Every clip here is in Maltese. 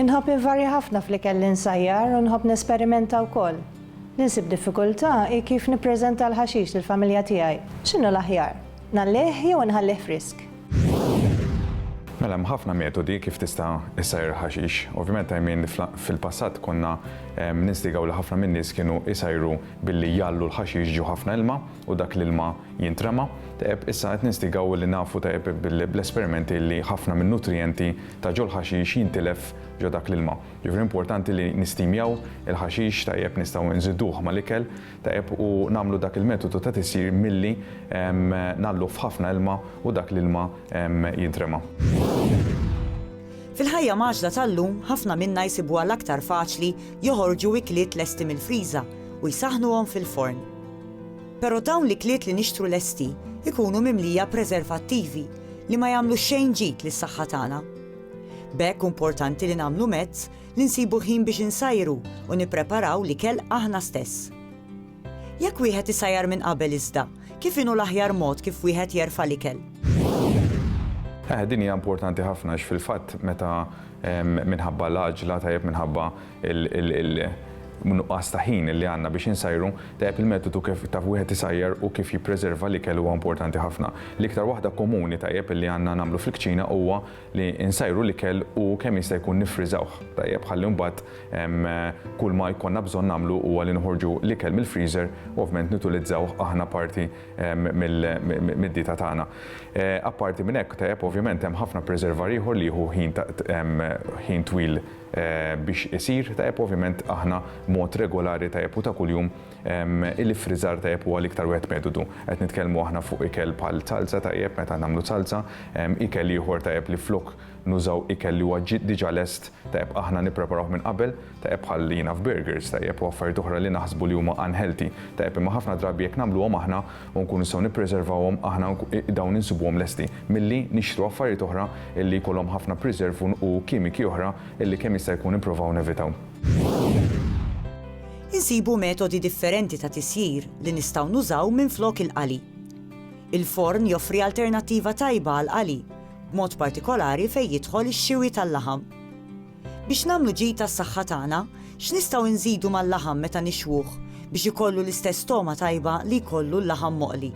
Inħobb invarja ħafna fl-ikel li nsajjar u nħobb nesperimenta wkoll. Li nsib diffikultà hi kif nippreżenta l-ħaxix lill-familja tiegħi. X'inhu l-aħjar? Ngħallih jew inħallih frisk? Mela hemm ħafna metodi kif tista' issajjar il-ħaxix. Ovvjament Aymin fil-passat konna ninstigaw li ħafna min-nies kienu jsajru billi jgħallu l-ħaxix ġo ħafna ilma u dak l-ilma jintrema. Tajjeb, issa qed ninstigaw li nafu tajjeb bl-esperimenti li ħafna min-nutrijenti ta' ġol-ħaxix jintilef ġo dak l-ilma. Ġifieri importanti li nistimjaw il-ħaxix tajjeb nistgħu nżiduh mal-ikel tajjeb u nagħmlu dak il-metodu ta' tisjir milli ngħalluh f'ħafna ilma u dak l-ilma jintrema. Fil-ħajja mgħaġġla tal-lum ħafna minna jsibuha l-aktar faċli joħorġu ikliet lesti mill-friża u jsaħħnuhom fil-forn. Però dawn l-ikliet li nixtru lesti jkunu mimlija preservattivi, li ma jagħmlu xejn ġid lis-saħħa tagħna. B'hekk hu importanti li nagħmlu mezz li nsibu ħin biex insajru u nippreparaw l-ikel aħna stess. Jekk wieħed isajjar minn qabel iżda, kif inhu l-aħjar mod kif wieħed jerfa' l-ikel? Eh, din hija importanti ħafna għax fil-fatt meta minħabba l-għaġla tajjeb minħabba il-nuqqas ta' ħin li għandna biex insajru, tajjeb il-metodu kif ta' wieħed isajjar u kif jippreserva l-ikel huwa importanti ħafna. L-iktar waħda komuni tajjeb li għandna nagħmlu fil-kċina huwa li nsajru l-ikel u kemm jista' jkun niffriżawh tajjeb ħalli mbagħad kull ma jkollna bżonn nagħmlu huwa li noħorġu l-ikel mill-freezer u ovvjament nutilizzawh aħna parti mid-dieta tagħna. Apparti minn hekk tajjeb ovvjament hemm ħafna preservar ieħor li jieħu ħin twil biex isir tajjeb ovvjament aħna mod regolari tajjeb u ta' kuljum il-iffriżar tajjeb huwa l-iktar wieħed metodu. Qed nitkellmu aħna fuq ikel bħal salsa tajjeb meta nagħmlu salsa, ikel ieħor tajjeb li flok nużaw ikel li huwa diġà lest tajjeb aħna nippreparawh minn qabel tajjeb bħal jiena f'burgers tajjeb u affarijiet oħra li naħsbu li huma unhealthy tajjeb imma ħafna drabi jekk nagħmluhom aħna u nkunu nistgħu nippreservawhom aħna dawn insibuhom lesti milli nixtru affarijiet oħra li jkollhom ħafna preserve u kimiki oħra li kemm jista' jkun nipprovaw nevitaw. Insibu metodi differenti ta' tisjir li nistgħu nużaw minflok il-qali. Il-forn joffri alternattiva tajba għall-qali, b'mod partikolari fejn jidħol ix-xiwi tal-laħam. Biex nagħmlu ġid għas-saħħa tagħna, x'nistgħu nżidu mal-laħam meta nixwuh biex ikollu l-istess togħma tajba li jkollu l-laħam moqli?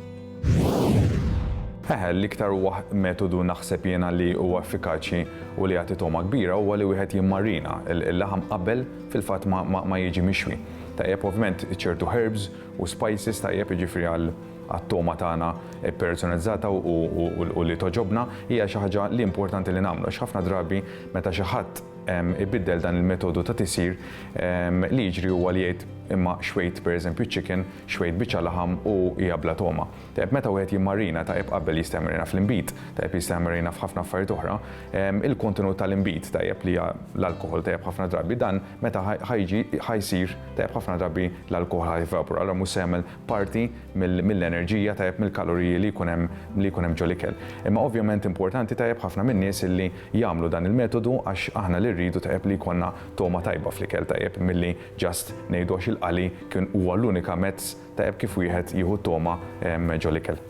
Eħe, l-iktar huwa metodu naħseb jiena li huwa effikaċi u li jagħti togħma kbira huwa li wieħed jimmarina l-laħam qabel fil-fatt ma jiġi mixwi. Tajjeb ovvjament ċertu herbs u spices tajjeb jiġifieri għal għat-togħma tagħna ppersonalizzata u li togħġobna hija xi ħaġa li importanti li nagħmlu għax ħafna drabi meta xi ħadd ibiddel dan il-metodu ta' tisjir li jiġri huwa li jgħid imma xwejt pereżempju chicken, xwejt biċċa laħam u hija bla togħma. Tajjeb meta wieħed jimmarina tajjeb qabel jista' jmarina fl-inbid, tajjeb jista' jmarina f'ħafna affarijiet oħra, il-kontenut tal-inbid tajjeb li hija l-alkoħol tajjeb ħafna drabi dan meta ħa jsir tajjeb ħafna drabi l-alkoħol ħa jevapora allura mhux se jagħmel parti mill-enerġija, tajjeb mill-kaloriji li jkun hemm li jkun hemm ġol-ikel. Imma ovvjament importanti tajjeb ħafna min-nies illi jagħmlu dan il-metodu għax aħna li rridu tajjeb li jkollna togħma tajba fl-ikel tajjeb milli just ngħidu għax il-qali kien huwa l-unika mezz tajjeb kif wieħed jieħu t-togħma ġol-ikel.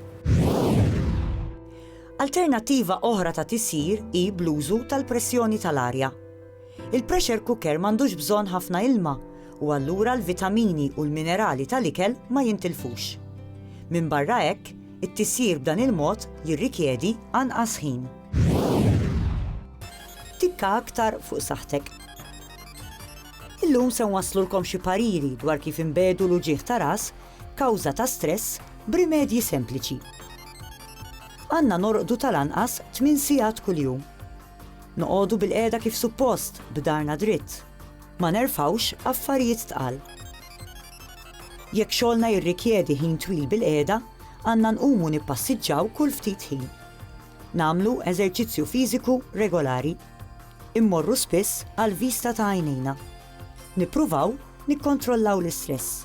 Alternattiva oħra ta' tisjir hi bl-użu tal-pressjoni tal-arja. Il-pressure cooker m'għandux bżonn ħafna ilma u allura l-vitamini u l-minerali tal-ikel ma jintilfux. Minbarra hekk, it-tisjir b'dan il-mod jirrikjedi anqas ħin. Tikka aktar fuq saħħtek. Illum se nwasslulkom xi pariri dwar kif inbegħdu l-uġigħ ta' ras kawża ta' stress b'rimedji sempliċi. Għandna norqdu tal-anqas tmien sigħat kuljum. Noqogħdu bilqiegħda kif suppost, b'darna dritt. Ma nerfgħux affarijiet tqal. Jekk xogħolna jirrikjedi ħin twil bilqiegħda, għandna nqumu nippassiġġaw kull ftit ħin. Nagħmlu eżerċizzju fiżiku regolari. Immorru spiss għall-vista ta' għajnejna. Nippruvaw nikkontrollaw l-istress.